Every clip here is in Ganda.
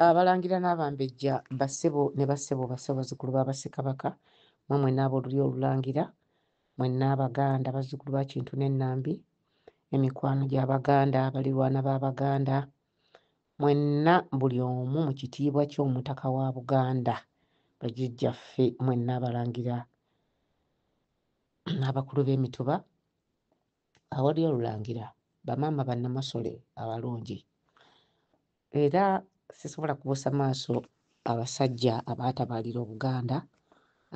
Abalangira n'abambejja, bassebo ne bassebo, bassebo bazzukulu ba Bassekabaka, mmwe mwenna ab'Olulyo Olulangira, mwenna Abaganda, bazzukulu ba Kintu ne Nambi, emikwano gya Baganda, balirwana ba Baganda, mwenna buli omu mu kitiibwa ky'Omutaka wa Buganda, bajjajjaffe, mwenna Abalangira n'abakulu b'emituba, Awali Olulangira, bamaama Bannamasole abalungi, Era sisobola kubuusa maaso abasajja abaatabaalira Obuganda,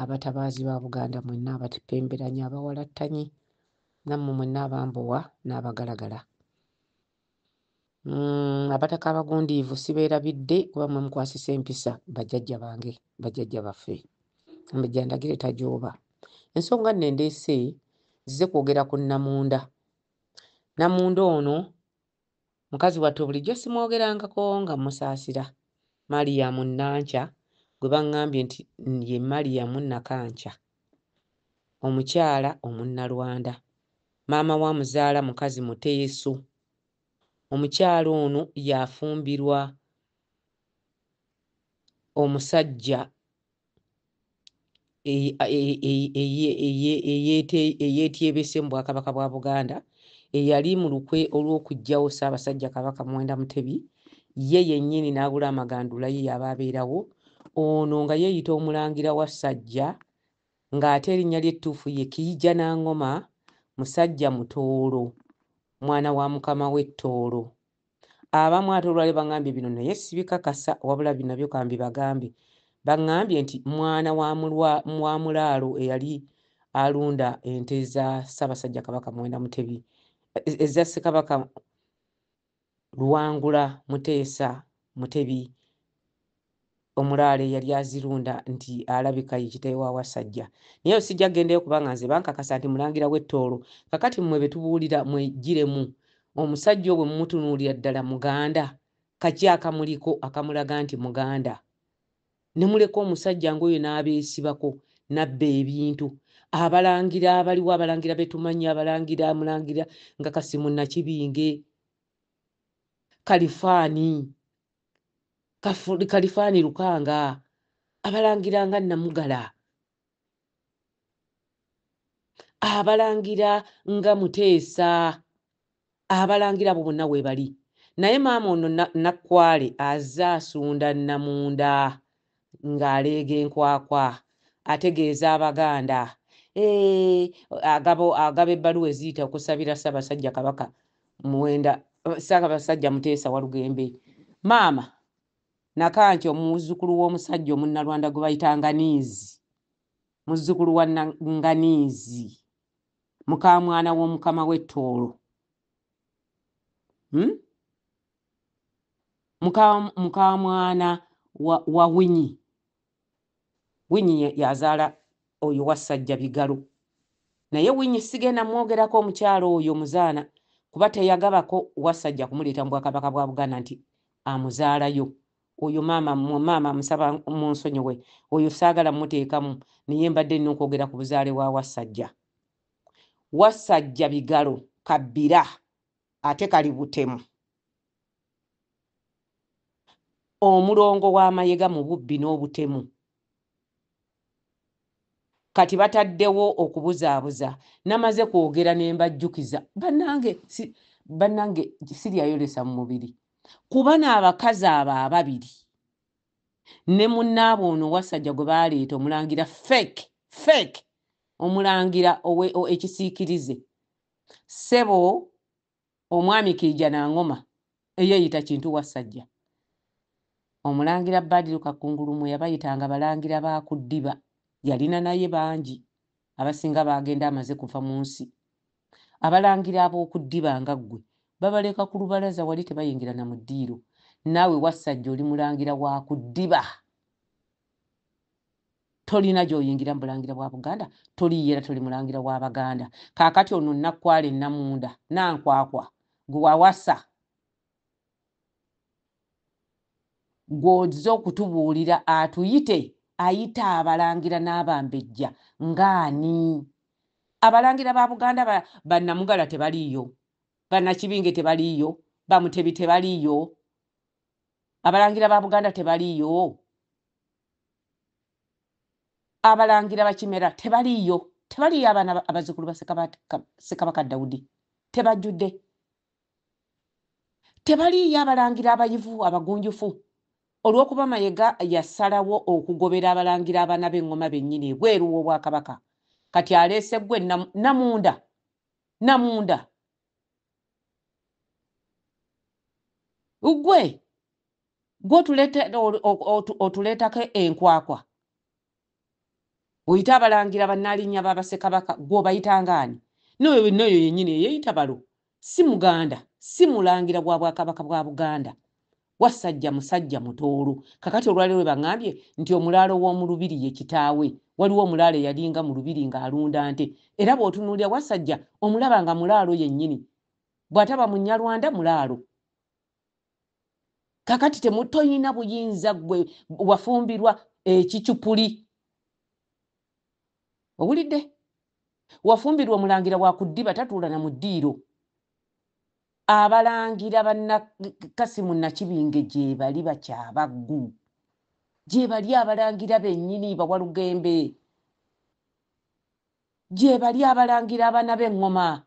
abatabaazi ba Buganda mwenna abatipemberanya, abawalattanyi, nammwe mwenna abambowa n'abagalagala. Mm, abataka abagundiivu sibeerabidde kuba mwe mukwasisa empisa bajjajja bange bajjajja baffe amajja ndagire tajooba ensonga nno endeese zize kwogera ku namunda namunda ono Mukazi wattu bulijjo simwogerangako nga mmusaasira. Mariam Nankya gwe bang'ambye nti ye Mariam Nakankya, omukyala Omunnalwanda, maama wa muzaala mukazi Muteeso. Omukyala ono yafumbirwa omusajja eyeetyebese mu Bwakabaka bwa Buganda eyali mu lukwe olw'okuggyawo Ssaabasajja Kabaka Muwenda Mutebi ye yennyini n'agula amagandula ye y'aba abeerawo ono nga yeeyita Omulangira Wassajja ng'ate erinnya lye ettuufu ye Kiijanangoma musajja Mutooro mwana wa mukama we Tooro Abamu ate olwali bangambye bino naye sibikakasa wabula binabyo kambi bagambe bangambye nti mwana wa mulaalo eyali alunda ente za Ssaabasajja Kabaka Muwenda Mutebi eza Ssekabaka Luwangula Muteesa Mutebi omulaalo eyali azirunda nti alabika ye kitae wa Wasajja. Naye eyo sijja gendeyo kubanga nze bankakasa nti mulangira we Tooro. Kakati mwe betubuulira mwejjiremu. Omusajja oyo bwemumutunuulira ddala muganda? Kaki akamuliko akamulaga nti muganda? Nemuleka omusajja ngoyo nabeesibako nabba ebintu. Abalangira abaliwo abalangira betumanyi abalangira mulangira nga Kasimu Nakibinge, Kalifaani. kalifaani lukanga abalangira nga namugala abalangira nga muteesa abalangira abo bonna webali naye maama ono nakwale aze asunda namunda ng'aleega enkwakwa ategeeza Abaganda eh, agabo agaba ebbaluwa eziyita okusabira Ssaabasajja Kabaka Muwenda Ssaabasajja Muteesa Walugembe maama Nakanki omuzzukulu w'omusajja omunnalwanda gwe bayita Nganiizi muzzukulu wa Nganiizi mukaamwana w'omukama w'ettoolo hmm? mukamwana wa winyi winyi yazaala oyo wassajja bigalo naye winyi sigenda mwogerako omukyalo oyo muzaana kuba teyagabako wassajja kumuleeta mu bwakabaka bwa buganda nti amuzaalayo oyo maama maama musaba munsonyiwe oyo saagala muteekamu naye mbadde nina okwogera ku buzaale wa wassajja wassajja bigalo kabbira Ate kali butemu. Omulongo wa mayega mu bubbi n'obutemu. Kati bataddewo okubuzaabuza. Namaze kwogera ne mbajjukiza. Bannange si, bannange siryayolesa mu mubiri. Ku bano abakazi abo ababiri ne munnaabwe ono Wassajja gwe baaleeta omulangira fake, fake omulangira owe, o, ekisiikirize Ssebo omwami Kiija Nangoma eyeeyita Kintu Wassajja, Omulangira Badiru Kakungulu mwe yabayitanga balangira ba ku ddiba yalina naye bangi abasinga baagenda amaze kuva mu nsi. Abalangira ab'oku ddiba nga ggwe babaleka ku lubalaza wali tebayingira na mu ddiiro. Naawe Wassajja oli mulangira wa ku ddiba. tolina gy'oyingira mu bulangira bwa buganda toliiyo era toli mulangira wa baganda kaakati ono nakkwala ennamunda nankwakwa gwe wawasa gw'ozze okutubuulira atuyite ayita abalangira n'abambejja ng'ani abalangira ba buganda bannamugala tebaliiyo bannakibinge tebaliiyo bamutebi tebaliiyo abalangira ba buganda tebaliiyo abalangira bakimera tebaliiyo tebaliiyo abaana abazukulu ba sekabaka dawudi tebajjudde tebaliiyo abalangira abayivu abagunjufu olw'okuba mayega yasalawo okugobera abalangira abaana b'eŋŋoma bennyini ebweru w'obwakabaka kati aleese gwe namunda namunda ugwe gwe otuleetako enkwakwa oyita abalangira banaalinya babasekabaka gwe obayitangaani noyo noyo yenyini eyeyita balo si muganda si mulangira gwa bwakabaka bwa buganda wasajja musajja mutoolo kakati olwaliro webangambye nti omulaalo w'omulubiri ye kitaawe waliwo omulaalo eyalinga mu lubiri ng'alunda nte era bw'otunuulira wasajja omulaba nga mulaalo yennyini bw'ataba munyalwanda mulaalo kakati temutoyina buyinza gwe wafumbirwa ekicupuli owulidde wafumbirwa omulangira wakuddiba tatuula na mudiiro abalangira banakasimu nakibinge gyebali bakyabaggu gyebali abalangira benyini bawalugembe gyebali abalangira abana bengoma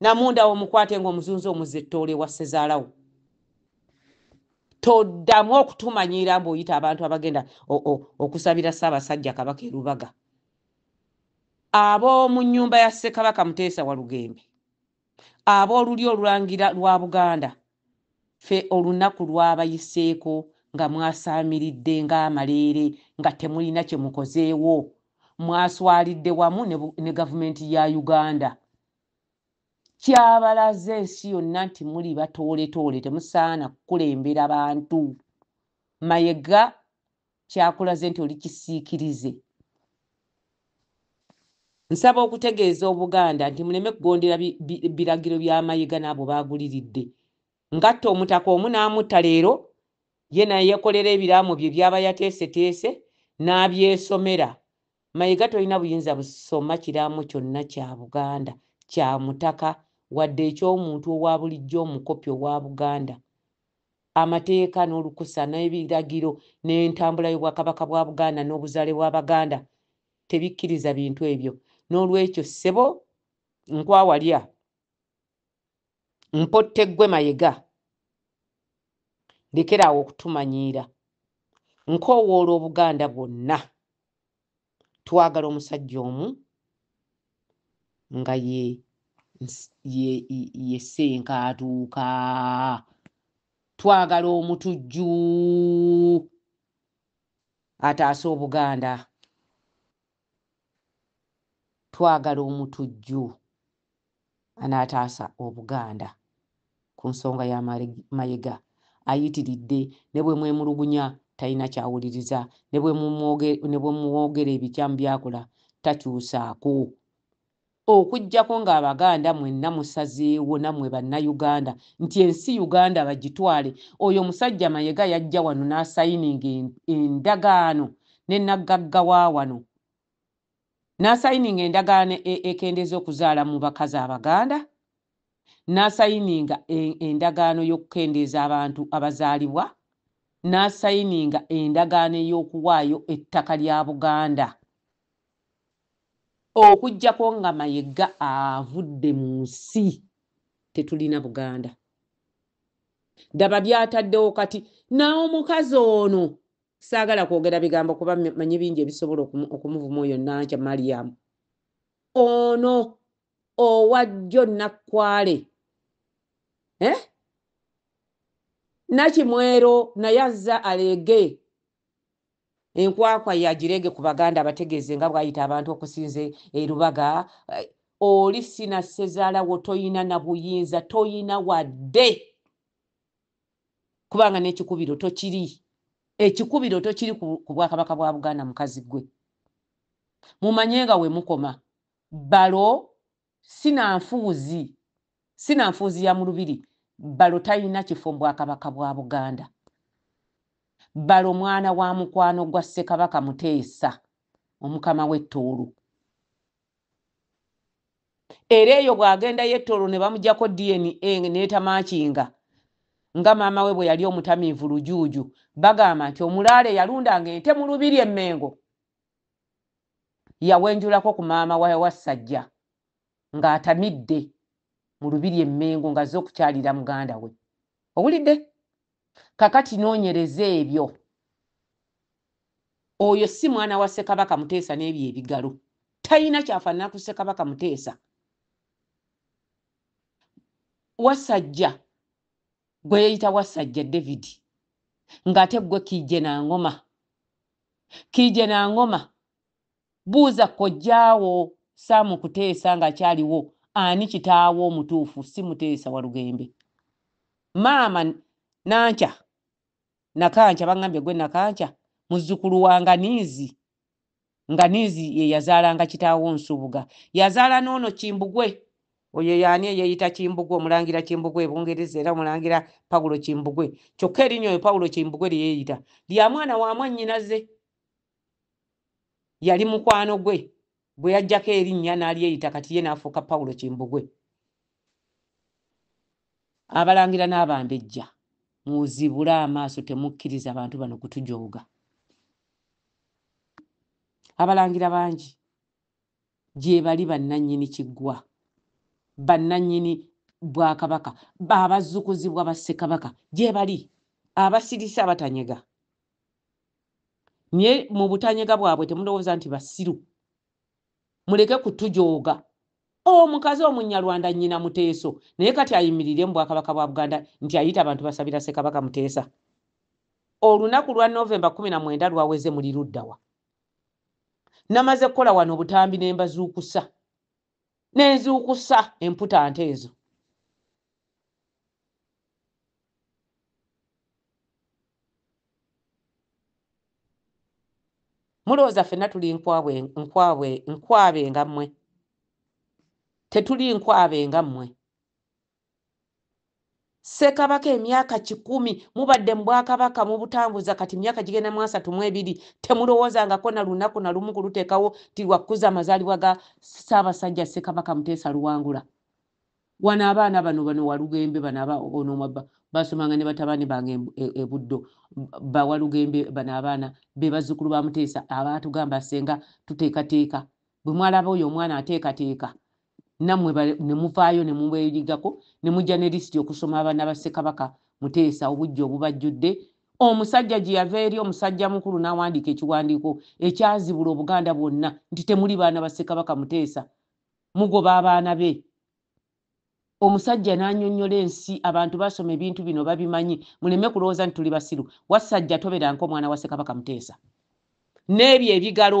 namunda wo mukwate nga omuzunzi omuze toole wa sezaalawo toddamu okutumanyiira mbu oyita abantu abagenda okusabira ssaabasajja kabaka erubaga ab'omu nyumba ya ssekabaka muteesa walugembe ab'oluli olulangira lwa buganda fe olunaku lwabayiseeko nga mwasaamiridde ng'amaleere nga temulina kye mukozeewo mwaswalidde wamu ne gavumenti ya uganda kyabalaze ensi yonna nti muli batooletoole temusaana kukulembera bantu mayega kyakulaze nti oli kisiikirize nsaba okutegeeza obuganda nti muleme kugondera biragiro bya mayega n'abo baaguliridde ngatta omutaka omu n'amutta leero ye nayeekolera ebiraamo bye byaba yateeseteese n'abyesomera Mayega tolina buyinza busoma kiraamo kyonna kya Buganda kya mutaka wadde eky'omuntu owabulijjo omukopi owa Buganda. Amateeka n'olukusa n'ebiragiro n'entambula y'Obwakabaka bwa Buganda n'obuzaale bwa Baganda tebikkiriza bintu ebyo. N'olwekyo ssebo Nkwawalya mpotte ggwe mayega lekeraawo okutumanyiira nkoowoola obuganda bwonna twagala omusajja omu nga ye yesenkaatuuka twagala omutujju ataasa obuganda twagala omutujju anaataasa Obuganda ku nsonga ya Mayega. Ayitiridde ne bwe mwemulugunya talina ky'awuliriza, ne bwe mumwogera ebikyamu by'akola takyusaako. Okujjako nga abaganda mwenna musazeewo namwe banna Uganda nti ensi Uganda bagitwale, oyo omusajja Mayega yajja wano nasayininga endagaano ne naggagga wawano, nasayininga endagaano ekendeeza okuzaala mubakazi abaganda, n'asayininga e, endagaano y'okukendeeza abantu abazaalibwa n'asayininga endagaano ey'okuwaayo ettaka lya Buganda okujjako nga Mayega avudde mu nsi tetulina Buganda. Daba byataddewo kati nawo omukazi ono saagala kwogera bigambo kuba manyi bingi ebisobola okumuvuma oyo Nankya Mariam ono owa jjo nakkwale eh? nakimwero naye azza aleege enkwakwa yagireege ku baganda abategeeze nga bwayita abantu okusinza erubaga eh, oli sina sezaalawo toyina na buyinza toyina wadde kubanga n'ekikubiro tokiri ekikubiro tokiri ku bwakabaka bwa buganda mukazi gwe mumanye nga wemukoma Balo sinanfuuzi sinanfuuzi ya mulubiri balo talina kifo mubwakabaka bwa buganda balo mwana wa mukwano gwa ssekabaka muteesa omukama we tooro era eyo bwagenda ye tooro nebamujako dna netamakinga nga maama we bweyali omutamiivu lujuuju bagamba nti omulaalo eyalundanga ente mulubiri emengo yawenjulako ku maama wa wassajja ng'atamidde mu lubiri e Mmengo ng'azze okukyalira muganda we. Owulidde? Kakati noonyereza ebyo. Oyo si mwana wa Ssekabaka Muteesa n'ebyo ebigalo. Talina kyafaanana ku Ssekabaka Muteesa. Wasajja gwe yeeyita Wasajja David ng'ate ggwe Kiijje Nangoma. Kiije na ngoma. Buuza kojjaawo Sam Kuteesa ng'akyaliwo ani kitaawo omutuufu si Muteesa Walugembe. Maama Nankya, Nakankya, bangambye ggwe Nakankya muzzukulu wa Nganiizi. Nganiizi ye yazaalanga kitaawo Nsubuga. Yazaala n'ono Kimbugwe Oyo yaani eyeyita Kimbugwe, omulangira Kimbugwe e Bungereza era omulangira Paulo Kimbugwe. Kyokka erinnya oyo Paulo Kimbugwe lye yeeyita lya mwana wa mwannyinaze. Yali mukwano gwe gwe yaggyako erinnya n'alyeyita kati ye n'afuuka Paulo Kimbugwe. Abalangira n'Abambejja muzibule amaaso temukkiriza bantu bano kutujooga. Abalangira bangi gyebali bannannyini Kiggwa, bannannyini Bwakabaka, abazzukuzibwa ba Ssekabaka gyebali, abasirise abatanyega. Naye mu butanyega bwabwe temulowooza nti basiru. Muleke kutujooga. Omukazi Omunnyalwanda nnyina Muteeso naye kati ayimirire mu Bwakabaka bwa Buganda nti ayita bantu basabira Ssekabaka Muteesa? Olunaku lwa November kkumi na mwenda lwaweze muli luddawa? namaze kukola wano obutambi ne mbazuukusa ne nzuukusa emputa nte ezo mulowooza fenna tuli nkwabwe nkwabwe nkwabe nga mmwe tetuli nkwabe nga mmwe Ssekabaka emyaka kikumi mubadde mu bwakabaka mubutambuza kati myaka gigenda mu asatu mu ebiri temulowoozangako na lunaku na lumu kuluteekawo nti lwa kukuza amazaalibwa ga Ssaabasajja Ssekabaka Muteesa Luwangula. Wano abaana bano bano Walugembe bano aba onomwa ba baasomanga ne batabani bange e, e Buddo ba Walugembe bano abaana be bazzukulu ba Muteesa abaatugamba ssenga tuteekateeka bwe mwalaba oyo omwana ateekateeka namwe ne muvaayo ne mubeeligako ne mujja ne lisiti okusoma abaana ba Ssekabaka Muteesa obuggya obubajjudde, omusajja gye yava eri omusajjamukulu n'awandiika ekiwandiiko ekyazibula Obuganda bwonna nti temuli baana ba Ssekabaka Muteesa, mugoba abaana be. Omusajja n'anyonnyola ensi, abantu basoma ebintu bino babimanyi, muleme kulowooza nti tuli basiru. Wassajja toberanko mwana wa Ssekabaka Muteesa. N'ebyo ebigalo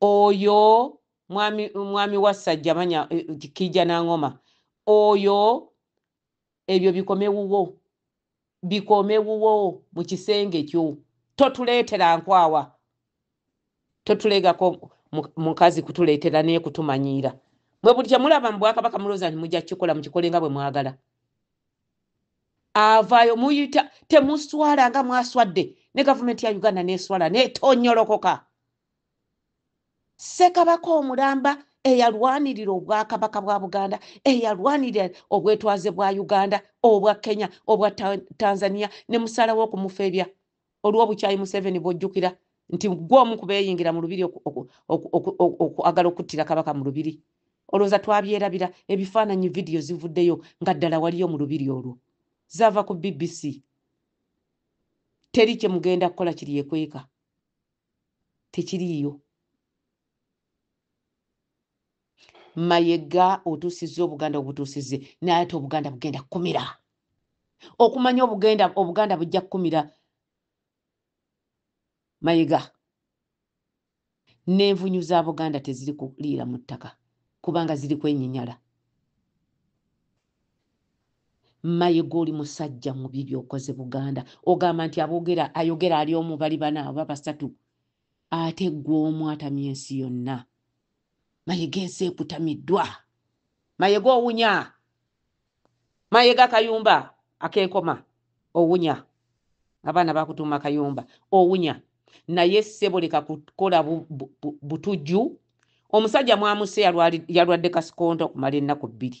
oyo mwami mwami wassajja manya eh, kijja nangoma oyo ebyo bikomewuwo bikomewuwo mu kisenge kyo totuleetera nkwawa totulegako mukazi kutuleetera naye kutumanyiira mwe buli kyemulaba mu bwakabaka mulooza nti mujja kukikola mukikole nga bwe mwagala avaayo muyita temuswala nga mwaswadde ne gavumenti ya uganda neswala netonyolokoka sekabaka omulamba eyalwanirira obwakabaka bwa buganda eyalwanirira obwetwaze bwa uganda obwa kenya obwa tanzania ne musalawo okumufebya olw'obukyayi museveni bwojjukira nti gwe omu kubeeyingira mu lubiri okwagala okuttira kabaka mu lubiri olowooza twabyerabira ebifaananyi vidiyo zivuddeyo nga ddala waliyo mu lubiri olwo zaava ku bbc teri kye mugenda kukola kiri ekweka tekiriiyo mayega otusiza obuganda obutusize naye ate obuganda bugenda kukumira okumanya obugenda obuganda bujja kukumira mayega n'envunyu za buganda teziri kuliira mu ttaka kubanga ziri kwenyinyala mayega oli musajja mubi byokoze buganda ogamba nti abogera ayogera ali omu bali bana oba basatu Ate ggwe omu atamya ensi yonna. Mayega ensi ekutamiddwa. Mayega owunya. Mayega kayumba akenkoma owunya. Abaana bakutuuma kayumba owunya. Naye ssebo leka kukola butujju. Omusajja mwamuse yalwadde kasikonto okumala ennaku bbiri.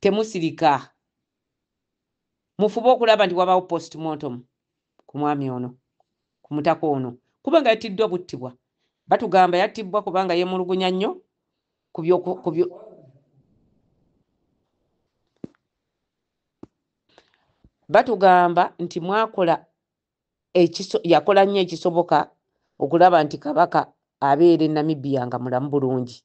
temusirika mufube okulaba nti wabawo postmortem ku mwami ono ku mutaka ono kubanga yattiddwa buttibwa batugamba yattibwa kubanga yemulugunya nnyo kubyo batugamba nti mwakola yakola nnyo ekisoboka okulaba nti kabaka abeera e namibia nga mulamu bulungi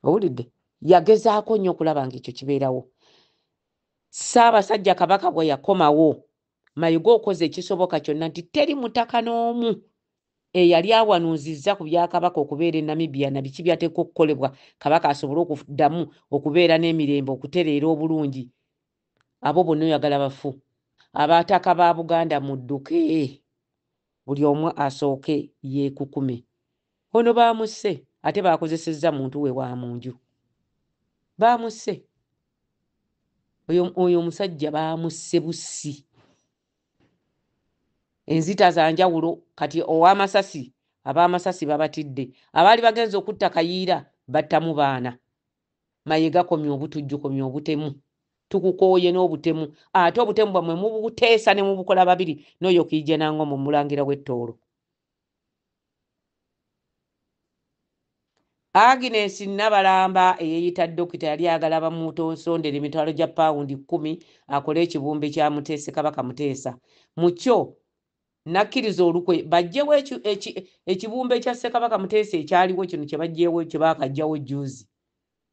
owulidde yagezaako nnyo okulaba nga ekyo kibeerawo saabasajja kabaka bwe yakomawo mayiga okoze ekisoboka kyonna nti teri mutaka n'omu eyali awanuuzizza ku byakabaka okubeera e namibia na biki byateeka okukolebwa kabaka asobole okuddamu okubeera n'emirembe okutereera obulungi abo bonna oyagala bafu abaataka ba buganda mudduke buli omu asooke yeekukume ono baamusse ate baakozesezza muntu we wa mu nju baamusse oyo omusajja baamusse bussi enzita za njawulo kati ow'amasasi ab'amasasi babatidde abaali bagenza okutta kayiira battamu baana Mayega komya obutujju komya obutemu tukukooye n'obutemu ate obutemu bwamwe mubuteesa ne mubukola babiri n'oyo kiija nango mu mulangira w'ettoolo Agnes Nabalamba eyeeyita dokita yali ayagala bamuutonsondere emitwalo gya pawundi kkumi akole ekibumbe kya Muteesi Kabaka Muteesa mu kyo nakkiriza olukwe bajjewo ekibumba ekya ssekabaka muteesa ekyaliwo kino kyebajjewo kyebakajjawo juzi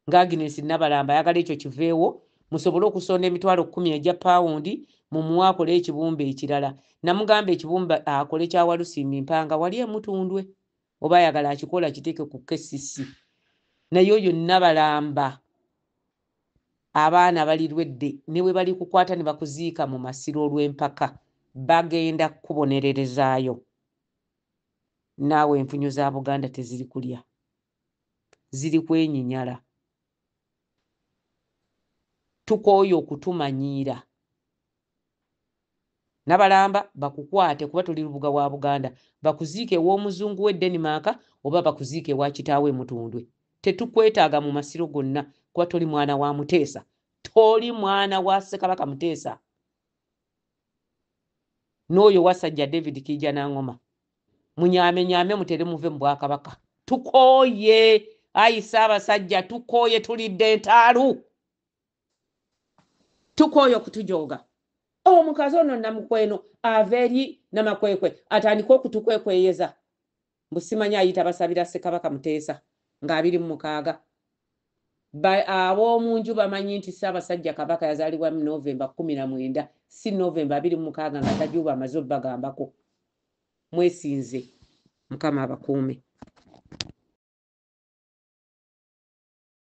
nga agnes nabalamba ayagala ekyo kiveewo musobole okusonda emitwalo kumi egya pawundi mumuwa akole ekibumba ekirala namugamba ekibumba akole kyawalusimbi mpanga wali emutundwe oba ayagala akikola akiteeke ku kcc naye oyo nabalamba abaana balirwedde ne bwe balikukwata ne bakuziika mu masiro olw'empaka bagenda kukubonererezaayo naawe enfunyo za buganda teziri kulya ziri kwenyinyala tukooye okutumanyiira Nabalamba bakukwate kuba toli lubuga wa Buganda. Bakuziike ew'omuzungu we Denmark oba bakuziike ewa kitaawo e Mutundwe. Tetukwetaaga mu masiro gonna kuba toli mwana wa Muteesa. Toli mwana wa Ssekabaka Muteesa n'oyo Wasajja David Kiijanangoma. Munyaamenyaame mutere muve mu Bwakabaka. Tukooye! Ayi Ssaabasajja tukooye tulidde ntaalu! tukooye okutujooga omukazi ono namukweno ava eri namakwekwe atandike okutukwekweyeza mbusimanya ayita basabira sekabaka muteesa nga abiri mu mukaaga ab'omunju bamanyi nti ssaabasajja kabaka yazaalibwa mu novemba kumi na mwenda si novemba abiri mu mukaaga nga tajuuba amaze obbagambako mwesinze mukama abakuume